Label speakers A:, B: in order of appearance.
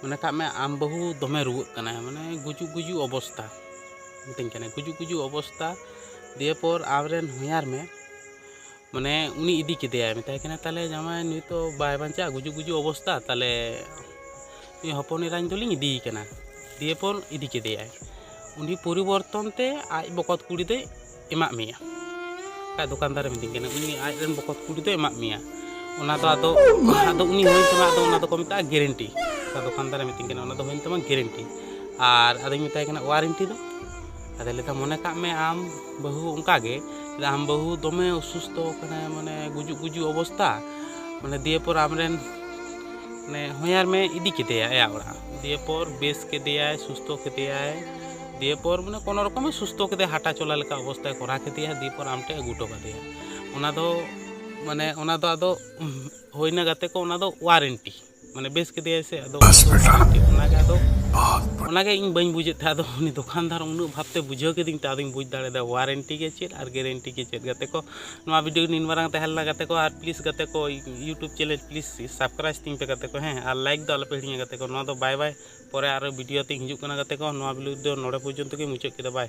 A: ᱢᱚᱱᱮ ᱠᱟᱜ ᱢᱮ ᱟᱢ ᱵᱟᱹᱦᱩ ᱫᱚᱢᱮ ᱨᱩᱣᱟᱹᱜ ᱠᱟᱱᱟᱭ ᱢᱟᱱᱮ ᱜᱩᱡᱩᱜ ᱜᱩᱡᱩᱜ ᱚᱵᱚᱥᱛᱟ ᱢᱤᱛᱟᱹᱧ ᱠᱟᱱᱟᱭ ᱜᱩᱡᱩᱜ ᱜᱩᱡᱩᱜ ᱚᱵᱚᱥᱛᱟ ᱫᱤᱭᱮ ᱯᱚᱨ ᱟᱢᱨᱮᱱ ᱦᱚᱧᱦᱟᱨ ᱢᱮ ᱢᱟᱱᱮ ᱩᱱᱤ ᱤᱫᱤ ᱠᱮᱫᱮᱭᱟᱭ ᱢᱮᱛᱟᱭ ᱠᱟᱱᱟ ᱛᱟᱦᱞᱮ ᱡᱟᱢᱟᱭ ᱱᱩᱭ ᱛᱚ ᱵᱟᱭ ᱵᱟᱧᱪᱟᱜᱼᱟ ᱜᱩᱡᱩᱜ ᱜᱩᱡᱩᱜ ᱚᱵᱚᱥᱛᱟ ᱛᱟᱦᱞᱮ ᱱᱩᱭ ᱦᱚᱯᱚᱱ ᱮᱨᱟᱧ ᱫᱚᱞᱤᱧ ᱤᱫᱤᱭᱮ ᱠᱟᱱᱟ ᱫᱤᱭᱮ ᱯᱚᱨ ᱤᱫᱤ ᱠᱮᱫᱮᱭᱟᱭ ᱩᱱᱤ ᱯᱚᱨᱤᱵᱚᱨᱛᱚᱱ ᱛᱮ ᱟᱡ ᱵᱚᱠᱚᱛ ᱠᱩᱲᱤ ᱫᱚᱭ ᱮᱢᱟᱜ ᱢᱮᱭᱟ ᱟᱡ ᱫᱚᱠᱟᱱᱫᱟᱨᱮ ᱢᱤᱛᱟᱹᱧ ᱠᱟᱱᱟ ᱩᱱᱤ ᱟᱡ ᱨᱮᱱ ᱵᱚᱠᱚᱛ ᱠᱩᱲᱤ ᱫᱚ ᱮᱢᱟᱜ ᱢᱮᱭᱟ ᱚᱱᱟ ᱫᱚ ᱟᱫᱚ ᱟᱫᱚ ᱩᱱᱤ ᱦᱩᱭᱮᱱ ᱛᱟᱢᱟ ᱟᱫᱚ ᱚᱱᱟ ᱫᱚᱠᱚ ᱢᱮᱛᱟᱜᱼᱟ ᱜᱮᱨᱮᱱᱴᱤ ᱟᱫᱚ ᱫᱚᱠᱟᱱᱫᱟᱨᱮ ᱢᱤᱛᱟᱹᱧ ᱠᱟᱱᱟ ᱚᱱᱟ ᱫᱚ ᱦᱩᱭᱮᱱ ᱛᱟᱢᱟ ᱜᱮᱨᱮᱱᱴᱤ ᱟᱨ ᱟᱫᱚᱧ ᱢᱮᱛᱟᱭ ᱠᱟᱱᱟ ᱳᱣᱟᱨᱮᱱᱴᱤ ᱫᱚ ᱟᱫᱚ ᱞᱟᱹᱭᱫᱟ ᱢᱚᱱᱮ ᱠᱟᱜ ᱢᱮ ᱟᱢ ᱵᱟᱹᱦᱩ ᱚᱱᱠᱟᱜᱮ ᱟᱢ ᱵᱟᱹᱦᱩ ᱫᱚᱢᱮ ᱚᱥᱩᱥᱛᱷᱚ ᱠᱟᱱᱟ ᱢᱟᱱᱮ ᱜᱩᱡᱩᱜ ᱜᱩᱡᱩᱜ ᱚᱵᱚᱥᱛᱟ ᱢᱟᱱᱮ ᱫᱤᱭᱮ ᱯᱚᱨ ᱟᱢᱨᱮᱱ ᱢᱟᱱᱮ ᱦᱚᱧᱦᱟᱨ ᱢᱮ ᱤᱫᱤ ᱠᱮᱫᱮᱭᱟ ᱟᱭᱟᱜ ᱚᱲᱟᱜ ᱫᱤᱭᱮ ᱯᱚᱨ ᱵᱮᱥ ᱠᱮᱫᱮᱭᱟᱭ ᱥᱩᱥᱛᱷᱚ ᱠᱮᱫᱮᱭᱟᱭ ᱫᱤᱭᱮ ᱯᱚᱨ ᱢᱟᱱᱮ ᱠᱳᱱᱳ ᱨᱚᱠᱚᱢᱮ ᱥᱩᱥᱛᱷᱚ ᱠᱮᱫᱮᱭᱟ ᱦᱟᱴᱟ ᱪᱚᱞᱟ ᱞᱮᱠᱟ ᱚᱵᱚᱥᱛᱟᱭ ᱠᱚᱨᱟᱣ ᱠᱮᱫᱮᱭᱟ ᱫᱤᱭᱮ ᱯᱚᱨ ᱟᱢ ᱴᱷᱮᱱ ᱟᱹᱜᱩ ᱦᱚᱴᱚ ᱠᱟᱫᱮᱭᱟ ᱚᱱᱟ ᱫᱚ ᱢᱟᱱᱮ ᱚᱱᱟ ᱫᱚ ᱟᱫᱚ ᱦᱩᱭᱱᱟ ᱜᱟᱛᱮ ᱠᱚ ᱚᱱᱟ ᱫᱚ ᱳᱣᱟᱨᱮᱱᱴᱤ ᱢᱟᱱᱮ ᱵᱮᱥ ᱠᱮᱫᱮᱭᱟᱭ ᱥᱮ ᱟᱫᱚ ᱚᱱᱟᱜᱮ ᱟᱫᱚ ᱚᱱᱟᱜᱮ ᱤᱧ ᱵᱟᱹᱧ ᱵᱩᱡᱮᱫ ᱛᱟᱦᱮᱸᱫ ᱟᱫᱚ ᱩᱱᱤ ᱫᱚᱠᱟᱱᱫᱟᱨ ᱩᱱᱟᱹᱜ ᱵᱷᱟᱵᱛᱮ ᱵᱩᱡᱷᱟᱹᱣ ᱠᱤᱫᱤᱧ ᱛᱮ ᱟᱫᱚᱧ ᱵᱩᱡᱽ ᱫᱟᱲᱮᱭᱟᱫᱟ ᱳᱣᱟᱨᱮᱱᱴᱤ ᱜᱮ ᱪᱮᱫ ᱟᱨ ᱜᱮᱨᱮᱱᱴᱤ ᱜᱮ ᱪᱮᱫ ᱜᱟᱛᱮ ᱠᱚ ᱱᱚᱣᱟ ᱵᱷᱤᱰᱤᱭᱳ ᱱᱤᱱ ᱢᱟᱨᱟᱝ ᱛᱟᱦᱮᱸ ᱞᱮᱱᱟ ᱜᱟᱛᱮ ᱠᱚ ᱟᱨ ᱯᱞᱤᱡᱽ ᱜᱟᱛᱮ ᱠᱚ ᱤᱭᱩᱴᱩᱵᱽ ᱪᱮᱱᱮᱞ ᱯᱞᱤᱡᱽ ᱥᱟᱵᱥᱠᱨᱟᱭᱤᱵᱽ ᱛᱤᱧ ᱯᱮ ᱜᱟᱛᱮ ᱠᱚ ᱦᱮᱸ ᱟᱨ ᱞᱟᱭᱤᱠ ᱫᱚ ᱟᱞᱚᱯᱮ ᱦᱤᱲᱤᱧᱟ ᱜᱟᱛᱮ ᱠᱚ ᱱᱚᱣᱟ ᱫᱚ ᱵᱟᱭ ᱵᱟᱭ ᱯᱚᱨᱮ ᱟᱨᱚ ᱵᱷᱤᱰᱤᱭᱳ ᱛᱤᱧ ᱦᱤᱡᱩᱜ ᱠᱟᱱᱟ ᱜᱟᱛᱮ ᱠᱚ ᱱᱚᱣᱟ ᱵᱷᱤᱰᱤᱭᱳ ᱫᱚ ᱱᱚᱰᱮ ᱯᱚᱨᱡᱚᱱᱛᱚ ᱜᱮᱧ ᱢᱩᱪᱟᱹᱫ ᱠᱮᱫᱟ ᱵᱟᱭ